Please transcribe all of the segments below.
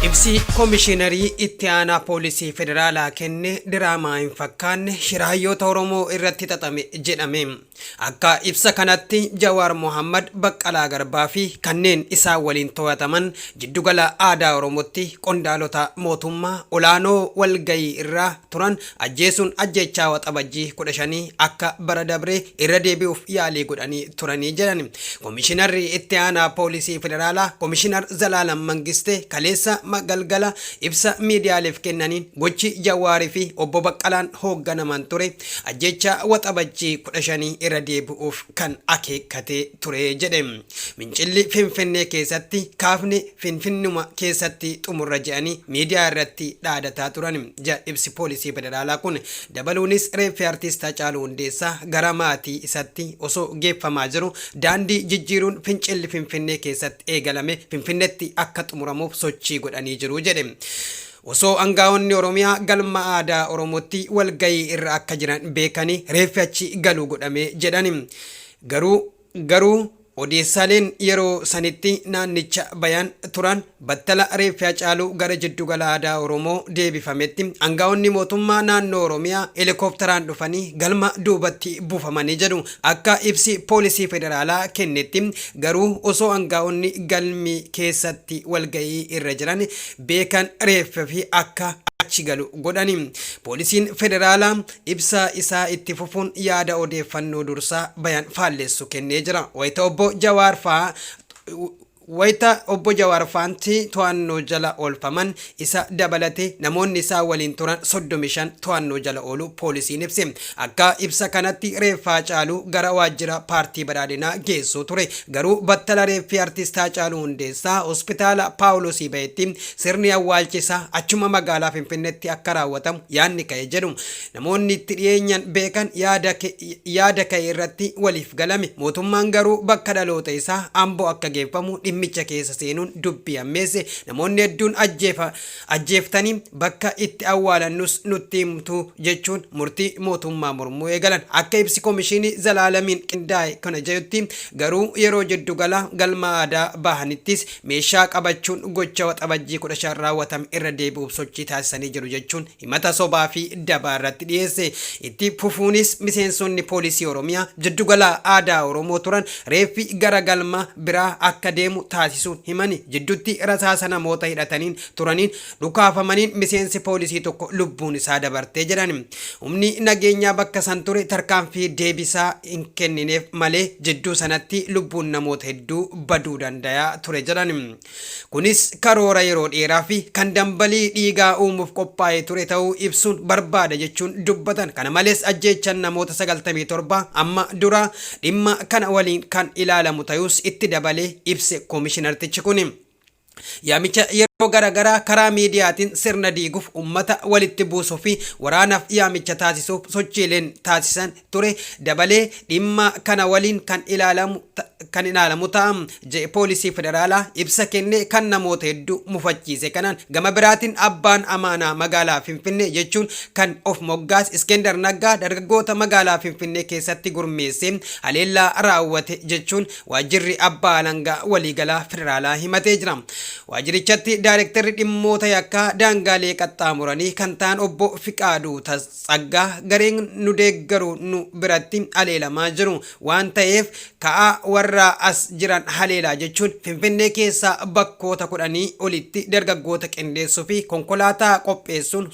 Ibsi Komishiinarii Itti Aanaa Poolisii Federaalaa kenne diraamaa hin fakkaanne shira hayyoota Oromoo irratti xaxame jedhame. Akka ibsa kanatti Jawaar Mohaammad, Baqqalaa Garbaa fi kanneen isaan waliin toyataman Jiddugala Aadaa Oromootti qondaalota mootummaa olaanoo walgahii irra turan ajjeesuun ajjeechaa Waxabajjii 15 akka bara dabree irra deebi'uuf yaalii godhanii turani jedhan Komishinarri Itti Aanaa Poolisii Federaalaa Komishinar Zalaalam Mangistee kaleessa galgala ibsa miidiyaaleef kennaniin gochi Jawaar fi Obbo Baqqalaan hoogganaman ture ajjeechaa Waxabajjii 15 irra deebi'uuf kan akeekkate ture jedhe. Fincilli Finfinnee keessatti kaafne Finfinnuma keessatti xumurra jedhanii miidiyaa irratti dhaadataa turan, jedha ibsi poolisii federaalaa kun. Dabaluunis reeffi Artiist Hacaaluu Hundeessaa gara maatii isatti osoo geeffamaa jiru daandii jijjiiruun fincilli Finfinnee keessatti eegalame Finfinnetti akka xumuramuuf sochii godhanii jiru jedhe. Osoo angaa'onni Oromiyaa galma aadaa Oromootti walgahii irra akka jiran beekanii reeffi achi galu godhame jedhani. Garuu garuu odeessaaleen yeroo sanitti naannicha bayan turan battala reeffi Hacaaluu gara jiddu gala aadaa Oromoo deebifametti angaa'onni mootummaa naannoo Oromiyaa helikooptaraan dhufanii galma duubatti buufamani jedhu akka ibsi poolisii federaalaa kennetti garuu osoo angaa'onni galmi keessatti walgahii irra jiran beekan reeffi akka achi galu godhani. Poolisiin Federaalaa ibsa isaa itti fufuun yaada odeeffannoo dursaa bayan faallessu kennee jira. Wayita Obbo Jawaar faa Wayita Obbo Jawaar faanti to'annoo jala oolfaman isa dabalatee namoonni isaa waliin turan 35 to'annoo jala ooluu poolisiin ibse. Akka ibsa kanatti reeffa Hacaaluu gara waajjira paartii Badhaadhinaa geessuu ture. Garuu battala reeffi Artist Haacaaluu Hundeessaa Hospitaala Paawulosii bahetti sirni awwaalcha isaa achuma magaalaa Finfinneetti akka raawwatamu yaadni ka'e jedhu namoonni itti dhiyeenyan beekan yaada ka'e irratti waliif galame. Mootummaan garuu bakka dhaloota isaa Amboo akka geeffamu dhimmicha keessa seenuun dubbii hammeesse. Namoonni hedduun ajjeeftanii bakka itti awwaalannus nutti himtu jechuun murtii mootummaa mormuu eegalan. Akka ibsi Komishinii Zalaalamiin qindaa'e kun jedhutti garuu yeroo jiddu gala galma aadaa bahanittis meeshaa qabachuun gocha Waxabajjii 15 raawwatame irra deebi'uuf sochii taasisanii jiru jechuun himata sobaa fi dabaa irratti dhiyeesse. Itti fufuunis miseensonni poolisii Oromiyaa jiddu gala aadaa Oromoo turan reeffi gara galma biraa akka deemu taasisuun himani. Jiddutti rasaasa namoota hidhataniin turaniin dhukaafamaniin miseensi poolisii tokko lubbuun isaa dabarte jedhan. Humni nageenyaa bakka san ture tarkaanfii deebisaa hin kennineef malee jidduu sanatti lubbuun namoota hedduu baduu dandaya ture jedhan. Kunis karoora yeroo dheeraa fi kan dambalii dhiigaa uumuuf qophaa'ee ture ta'uu ibsuun barbaada jechuun dubbatan. Kana malees ajjeechan namoota 97 amma duraa dhimma kana waliin kan ilaalamu tayuus itti dabalee ibse komishinartichi kuni. Yaamicha yeroo garagaraa karaa miidiyaatiin sirna diiguuf, ummata walitti buusuu fi waraanaaf yaamicha taasisuuf sochiileen taasisan ture dabalee dhimma kana waliin kan ilaalamu ta- kan ilaalamu ta'a jedhe poolisii federaalaa ibsa kenne kan namoota hedduu mufachiise kanaan gama biraatiin abbaan amaanaa magaalaa finfinnee jechuun kan of moggaas iskender naggaa dargaggoota magaalaa finfinnee keessatti gurmeessee haleellaa raawwate jechuun waajjirri abbaa alangaa waliigalaa federaalaa himatee jira waajjirichatti daayirektarri dhimmoota yakkaa daangaalee qaxxaamuranii kan ta'an obbo fiqaaduu Tas- Tsaggaa gareen nu deeggaru nu biratti haleelamaa jiru waan ta'eef ka'aa warra as jiran haleelaa jechuun Finfinnee keessaa bakkoota kudhanii olitti dargaggoota qindeessuu fi konkolaataa qopheessuun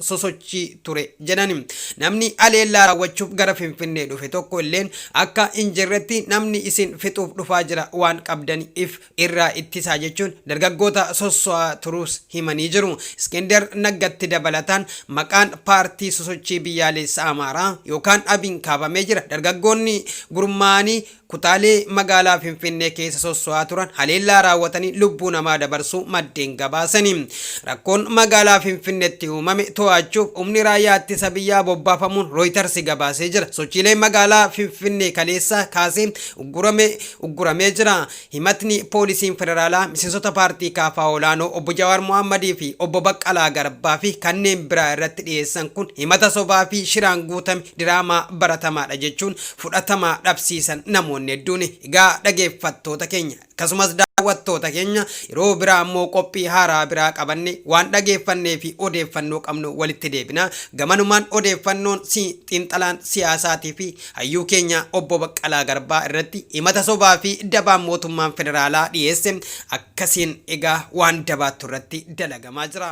sosochii ture jedhan. Namni haleellaa raawwachuuf gara Finfinnee dhufe tokko illeen akka hin jirretti namni isin fixuuf dhufaa jira waan qabdaniif irraa ittisaa jechuun dargaggoota sosso'aa turuus himanii jiru. Iskender Naggatti dabalataan maqaan paartii sosochii biyyaaleessa Amaaraa yookaan ABIn kaafamee jira. Dargaggoonni gurmaa'anii kutaalee magaalaa Finfinnee keessa sosso'aa turan haleellaa raawwatanii lubbuu namaa dabarsuu maddeen gabaasani. Rakkoon magaalaa Finfinneetti uumame to'achuuf humni raayyaa ittisa biyyaa bobbaafamuun Rooyitarsi gabaasee jira. Sochiileen magaalaa Finfinnee kaleessaa kaasee uggurame ugguramee jira. Himatni poolisiin federaalaa miseensota paartii KFO olaanoo Obbo Jawaar Mohaammad fi Obbo Baqqalaa Garbaa fi kanneen biraa irratti dhiyeessan kun himata sobaa fi shiraan guutame diraamaa baratamaadha jechuun fudhatama dhabsiisan namoonni hedduun. Egaa dhageeffattoota keenya akkasumas daawwattoota keenya yeroo biraa ammoo qophii haaraa biraa qabanne waan dhageeffannee fi odeeffannoo qabnu walitti deebina. Gamanumaan odeeffannoon si xiinxalaan siyaasaatii fi Hayyuu keenya Obbo Baqqalaa Garbaa irratti himata sobaa fi dabaa mootummaan federaalaa dhiyeesse akkasiin egaa waan dabaattu irratti dalagamaa jira.